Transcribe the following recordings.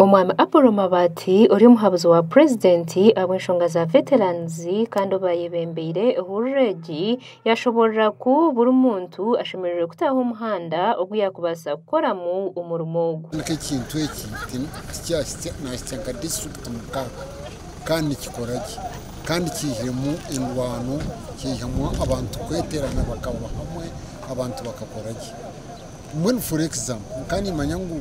Omwami Apollo Mabaati ori omuhabuzi wa purezidenti ahabw'enshonga za Veterans kandi ou baayebembeire hurura egi yaashoboorora ku buri muntu ashemereire kutaho omuhanda ogu yaakubaasa kukoramu omurimo ogu. Kwonka ekintu eki tikyahitsya naahitsya nka disiturikiti mukaaga kandi nikikora gye kandi kiihiremu endwano, kiihamu abantu kweterana bakaba hamwe abantu bakakora gye. Mbwenu for example nkaba niimanya ngu.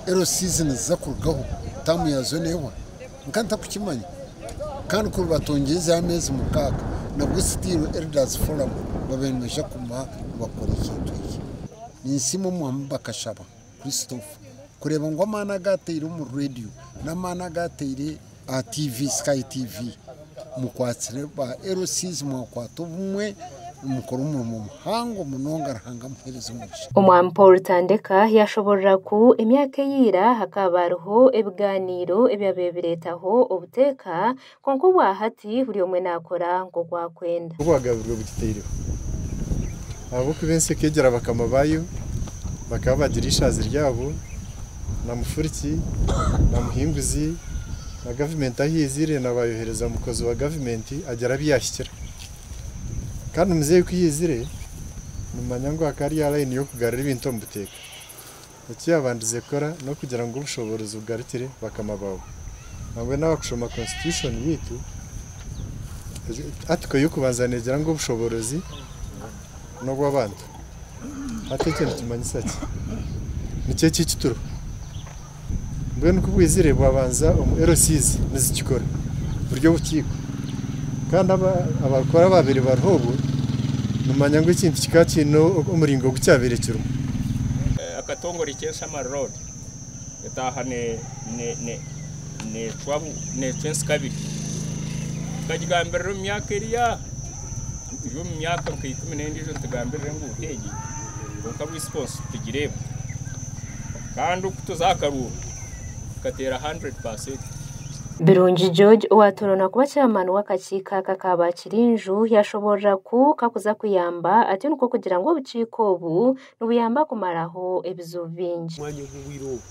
Ero season ziza kurugaho term yazo nehwa nka ntakukimanya Kandi kuri batongyire za mezi mukaga nabwo still elders forum babire nibaija kuguma nibakora ekintu ekyo. Ninsiima omwaami Bakashaba Christopher kureba ngu amaani agu ateire omuri radio n'amaani agu ateire Aha TV Sky TV mukwatsire ba LCs mwakwata obumwe nimukora omurimo muhango munonga Ruhanga amuhereze omugisha. Omwami Paul Tandeka yaashoboorora ku emyaka eyaira hakaaba hariho ebigaaniiro ebyabaire bireetaho obuteeka kwonka obwahati buri omwe naakora nk'oku akwenda. Obwagabi bwe bugitaireho. Ahabw'okuba ensi ekeegyera bakama baayo, bakaba bagira eishaazi ryabo, na mufuriki, na muhinguzi, na gavumenti ahu yaizire na baayohereza mukozi wa gavumenti agira abu yaahikira. Kandi muzeeyi ku yaizire, nimumanya ngu hakaba hariyo layini y'okugarura ebintu omu buteeka. Eki yaabandize kukora n'okugira ngu obushoboorozi bugarukire bakama baabo. Nambwenu aha kushoma Konsitityushoni yaitu, Atiko y'okubanza neegira ngu obushoboorozi n'obw'abantu. Hati ekyo nikimanyisa ki? Nikyo eki eki turiho. Mbwenu ku bwizire bwabanza omu LCs nizikikora buri obukiiko. Kandi abarikukora abaabaire bariho obwo nimumanya ngu ekintu kikaba kiine omuringo ogu kyabaire kirimu. Akatongore k'enshamari road etaaha neecwa ensikabiri. Tukagigambirira omu myaka eri aha, eri omu myaka nka ikumi n'endiijo nitugambirira enguuto egi kwonka bwisi bwonsi titugireeba. Kandi oku tuza aha karuuru tukateera 100%. Birungi George owaatooroorwa kuba chairman w'akakiiko aka ka Baakirinju yaashoboorora ku kakuza kuyamba atyo nikwo kugira ngu obukiiko obu nibuyamba kumaraho ebizibu bingi. Omwanya ogu obwire obu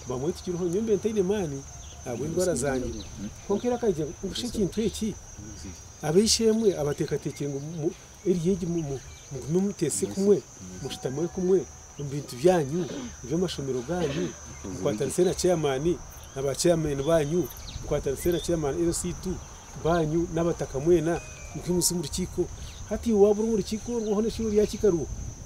bamwe tukiriho nyowe mbaire ntaine maani ahabw'endwara zangye kwonka era akagira ngu busha ekintu eki ab'eishe-emwe abateekateekire ngu eryo egi mugume muteese kumwe, mushutamire kumwe omu bintu byanyu, eby'amashomero gaanyu, mukwatanise na chairman na ba chairman baanyu, mukwatanise na chairman LC ii baanyu n'abataka mwena, mukimutsye omu rukiiko. Hati iwe waaba ori omu rukiiko orwo hoona eki oryakiika rwo.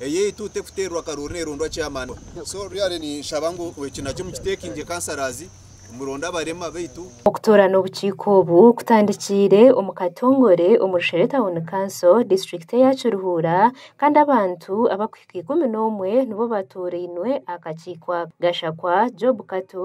eyaitu tekuteerwa karoori neerondwa chairman so really ninshaba ngu eki nakyo mukiteekingye councillors muronde abarema baitu Okutoorana obukiiko obu kutandikiire omu Katongore omu Rushere Town Council, Disiturikiti eya Kiruhura kandi abantu abakuhika ikumi n'omwe nibo batoorainwe aha kakiiko aka. Gashakwa Job Kato.